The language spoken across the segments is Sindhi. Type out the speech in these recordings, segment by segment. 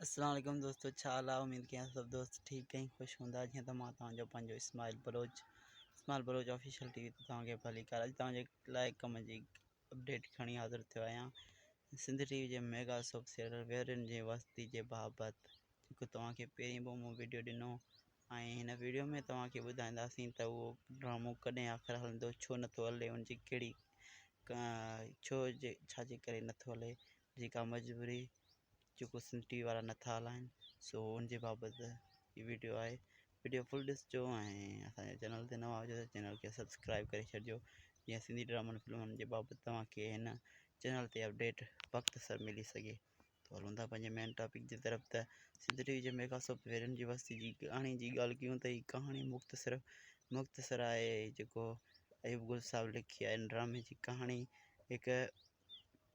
السلام عليڪم دوستو ڇا حال آهي اميد ڪيان سڀ دوست ٺيڪ ۽ خوش هوندا جيئن ته مان توهان جو پنهنجو Ismail Baloch Ismail Baloch official T V تي توهان کي ڀليڪار اڄ توهان جي لاء ڪم جي اپڊيٽ کڻي حاضر ٿيو آهيان سنڌ ٽي وي جي ميگا سوپ سيريل ويرين جي وستي جي بابت جيڪو توهان کي پهرين به مون ويڊيو ڏنو ۽ هن ويڊيو ۾ توهان کي ٻڌائينداسين ته اهو ڊرامو ڪڏهن آخر هلندو ڇو نٿو هلي ان جي ڪهڙي ڇو جي ڇا جي ڪري نٿو هلي جيڪا مجبوري جيڪو سنڌ ٽي وي وارا نٿا هلائن سو ان جي بابت هي ويڊيو آهي ويڊيو فل ڏسجو ۽ اسان جي چينل تي نوان هجو چينل کي سبسڪرائب ڪري ڇڏجو جيئن سنڌي ڊرامن فلمن جي بابت توهانکي هن چينل تي اپڊيٽ وقت سر ملي سگهي ته هلون ٿا پنهنجي مين ٽاپڪ جي طرف ته سنڌ ٽي وي جي ميگا سوپ ويرن جي وستي جي ڪهاڻي جي ڳالهه ڪيون ته هي ڪهاڻي مختصر مختصر آهي جيڪو ايوب گل صاحب لکي آهي ڊرامي جي ڪهاڻي هڪ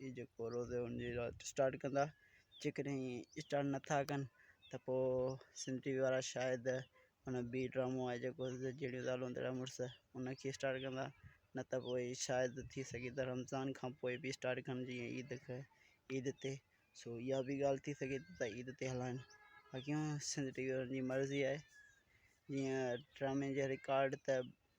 هي جيڪو روزو هن جي رات اسٽارٽ ڪندا جيڪڏهن هي اسٽارٽ نٿا ڪن ته پوء سنڌ ٽي وي وارا شايد هن بي ڊرامو آهي جيڪو جهڙيون زالون تهڙا مڙس هن کي اسٽارٽ ڪندا نه ته پوء شايد ٿي سگهي ته رمضان کان پوء بي اسٽارٽ ڪن جيئن عيد کي عيد تي سو اها بي ڳالهه ٿي سگهي ٿي ته عيد تي هلائن باقي سنڌ ٽي وي وارن جي مرضي آهي جيئن ڊرامي جا رڪارڊ ته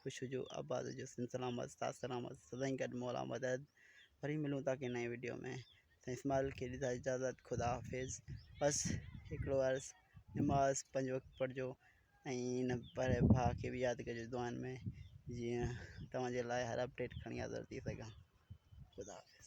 خوش هجو آباد هجو سنڌ سلامت استاد سلامت سدائين گڏ مولا مدد وري ملون ٿا ڪنهن نئين وڊيو ۾ سائين اسماعيل کي ڏيندا اجازت خدا حافظ بس هڪڙو عرض نماز پنج وقت پڙهجو ۽ هن پري ڀاء کي به ياد ڪجو دعائن ۾ جيئن توهانجي لاء هر اپڊيٽ کڻي حاضر ٿي سگهان خدا حافظ